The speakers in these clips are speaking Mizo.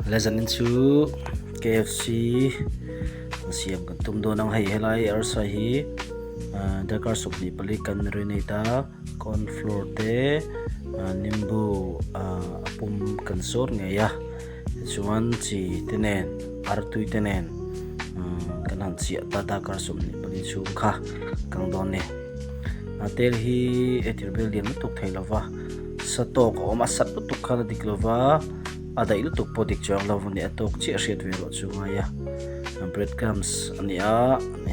Legend in chu KFC an siam kan tum dawn ang hei helai arsa hi darkar sawm hnih pali kan renovate a corn floor te nimbu a pum kan zawt ngei a tichuan chi te nen ar tui te nen kan han chhiah ta darkar sawm hnih pali chhung kha kang dawn a ni a tel hi e tirhbel lian lutuk thei lova. sa tawk a awm a sat lutuk khan a dik lo va a daih lutuk pawh dik chuang lo ani a tawk chiah hriat ve erawh chu a ngai a bread crumbs a ni a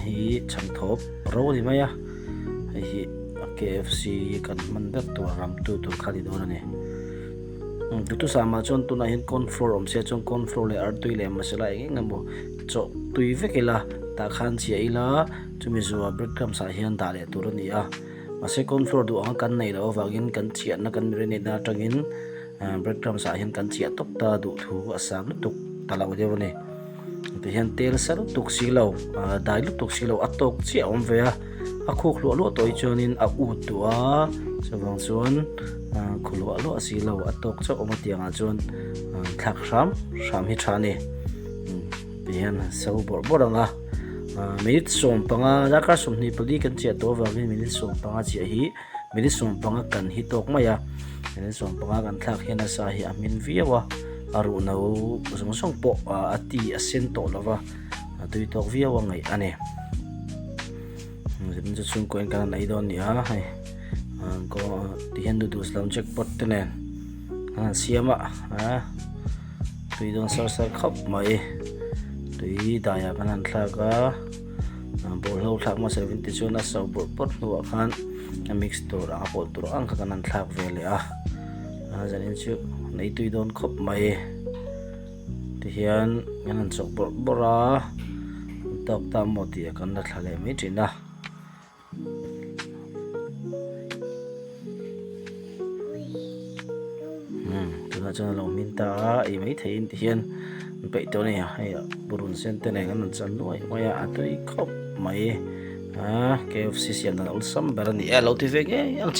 hei hi chhang thawp ro a ni mai a hei hi KFC kan hman ber tur a ram tu tur kha ni dawn a ni dutusam ah chuan tunah hian corn flour awm se chuan corn flour leh artui leh masala eng eng emaw chawh tui vek ila tah khan chhia ila chumi zua bread crumbs ah hian dah leh tur a ni a. Mahse, cauliflower duh anga kan neih loh avangin kan chhiahna kan marinade-na atangin breadcrumbs-ah hian kan chhiah tawp ta a, duh thu a sang lutuk ta lo deuh a ni. Tah hian tel sa lutuk si lo, dai lutuk si lo, a tawk chiah a awm ve a, a khuk hluah luah tawh hi chuanin a ut duh a, chuvang chuan khu luah luah si lo, a tawk chauh awm atiangah chuan thlak hram hram hi tha a ni. Tihian han so bawrh bawrh ang a. Minute sawm panga, darkar sawmhnih pali kan chhiah tawh avangin minute sawm panga chhiah hi minute sawm panga kan hi tawk mai a. Minute sawm panga kan thlak hian a sa hi a hmin viau a, a ruh no zawng zawng pawh a ti a sen tawh lo va, a tui tawk viau a ngaih a ni. Zin chu chhungkua in kan han ei dawn a ni a, hei tihian noodles lam jackpot te nen kan han siam a. tui dawn sar sar khawp mai tui daiah khan an thlak a ball ho thlak hmasa erawh ti chuan a sau bawrh bawrh hnuah khan a mix tur anga pawlh tur ang kha kan han thlak ve leh a a zan in chu nei tui dawn khawp mai ti hian kan han chawk bawrh bawrh a tawk ta maw tih a kan la thla leh mai thin a. tunah chuan a lo hming ta a ei mai thei in ti hian an peih tawh a ni a hei a purun sen te nen an rawn chan nuai nuai a a tui khawp mai a kfc siamdan awlsam ber a ni e a lo ti ve ngei ang chi.